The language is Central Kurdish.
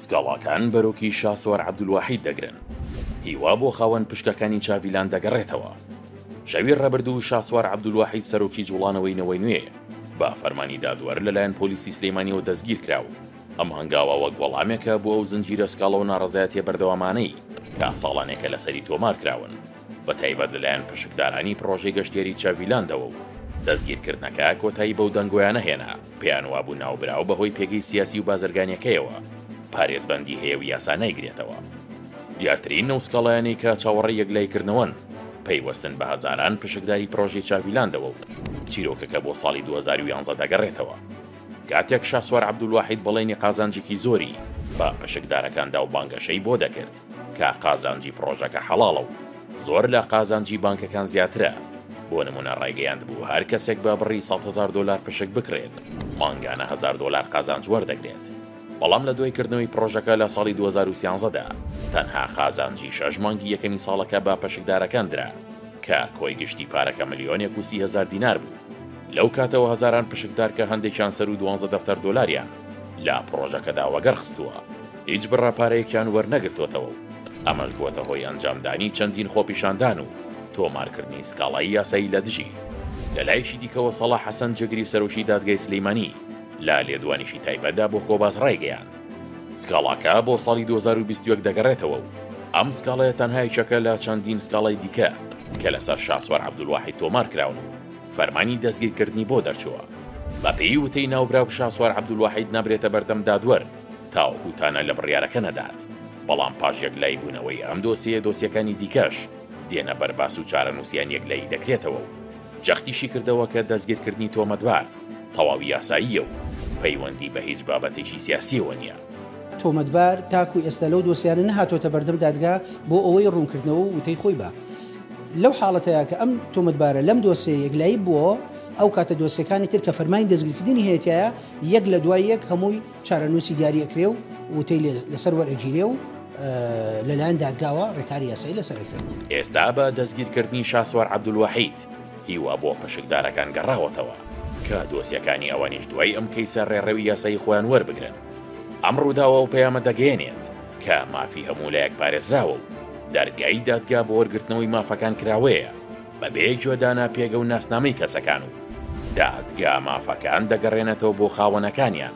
سکاڵاکان بەرۆکی شاسوار عەبدولواحید دەگرن، هیوا بۆ خاوەن پشکەکانی چاڤیلاند دەگەڕێتەوە. شەوی ڕابردوو شاسوار عەبدولواحید سەرۆکی جوڵانەوەی نەوەی نوێ بە فەرمانی دادوەر لەلایەن پۆلیسی سلێمانیەوە دەستگیر کرا و ئەم هەنگاوە وەک وەڵامێکە بۆ ئەو زنجیرە سکاڵا و ناڕەزایەتیە بەردەوامانەی کە ساڵانێکە لەسەری تۆمار کراون. بە تایبەت لەلایەن پشکدارانی پڕۆژەی گەشتیاری چاڤیلاندەوە و دەستگیرکردنەکە کۆتایی بەو دەنگۆیانە هێنا پێیان وابوو ناوبراو بەهۆی پێگەی سیاسی و بازرگانیەکەیەوە پارێزبەندی هەیە و یاسا نایگرێتەوە دیارترین نەوسکاڵایانی کە چاوەڕێ یەکلایکردنەوەن پەیوەستن بە هەزاران پشکداری پرۆژی چاڤیلاندەوە و چیرۆکەکە بۆ ساڵی 2011 دەگەڕێتەوە کاتێک شاسوار عبدولواحید بەڵێنی قازانجێکی زۆری بە پشکدارەکاندا و بانگەشەی بۆ دەکرد کە قازانجی پڕۆژەکە حەڵاڵە و زۆر لە قازانجی بانکەکان زیاترە، بۆ نموونە ڕایگەیاندبوو هەر کەسێک بە بڕی سەد هەزار دۆلار پشک بکڕێت، مانگانە هەزار دۆلار قازانج وەردەگرێت، بەڵام لە دوای کردنەوەی پڕۆژەکە لە ساڵی دوو هەزار و سیانزە دا تەنها قازانجی شەش مانگی یەکەمی ساڵەکە بە پشکدارەکان درا، کە کۆی گشتی پارەکە ملیۆنێک و سی هەزار دینار بوو، لەو کاتەوە هەزاران پشکدار کە هەندێکیان سەروو دوانزە دەفتەر دۆلاریان لە پڕۆژەکەدا وەگەڕ خستووە، هیچ بڕە پارەیەکیان وەرنەگرتۆتەوە و ئەمەش بووەتە هۆی ئەنجامدانی چەندین خۆپیشاندان و تۆمارکردنی سکاڵای یاسایی لە دژی. لە لایەکی دیکەوە سەڵاح حەسەن جێگری سەرۆکی دادگای سلێمانی لە لێدوانیکی تایبەتدا بۆ کۆباس ڕایگەیاند، سکاڵاکە بۆ ساڵی دوو هەزار و بیست و یەک دەگەڕێتەوە و ئەم سکاڵایە تەنها یەکێکە لە چەندین سکاڵای دیکە کە لەسەر شاسوار عەبدولواحید تۆمارکراون و فەرمانی دەستگیرکردنی بۆ دەرچووە. بەپێی وتەی ناوبراو شاسوار عەبدولواحید نابرێتە بەردەم دادوەر، تاوەکو تانە لە بڕیارەکە نەدات، بەڵام پاش یەکلایی بوونەوەی ئەم دۆسێیە دۆسیەکانی دیکەش دێنە بەر باس و چارەنووسیان یەکلایی دەکرێتەوە و جەختیشی کردەوە کە دەستگیرکردنی تۆمەتبار تەواوی یاساییە و پەیوەندی بە هیچ بابەتێکی سیاسییەوە نییە. تۆمەتبار تاکو ئێستا لەو دۆسیانە نەهاتۆتە بەردەم دادگا بۆ ئەوەی ڕوونکردنەوە و وتەی خۆی با. لەو حاڵەتەیا کە ئەم تۆمەتبارە لەم دۆسێیە یەکلایی بووەوە، ئەو کاتە دۆسێکانی تر کە فەرمانی دەستگیرکردنی هەیەتیایە، یەک لە دوای یەک هەمووی چارەنووسی دیاری ئەکرێ و وتەی لێ لەسەر وەرئەگیرێ و لەلایەن دادگاوە ڕێکاری یاسایی لەسەر ئەکرێ. ئێستا بە دەستگیرکردنی شاسوار عەبدولواحید هیوا بۆ پشکدارەکان گەڕاوەتەوە کە دۆسیەکانی ئەوانیش دوای ئەم کەیسە ڕێڕەوی یاسایی خۆیان وەربگرن. ئەم ڕووداوە ئەو پەیامە دەگەیەنێت کە مافی هەموو لایەک پارێزراوە و دەرگای دادگا بۆ وەرگرتنەوەی مافەکان کراوەیە. بەبێ گوێ دانە پێگە و ناسنامەی کەسەکان و دادگا مافەکان دەگەڕێنێتەوە بۆ خاوەنەکانیان.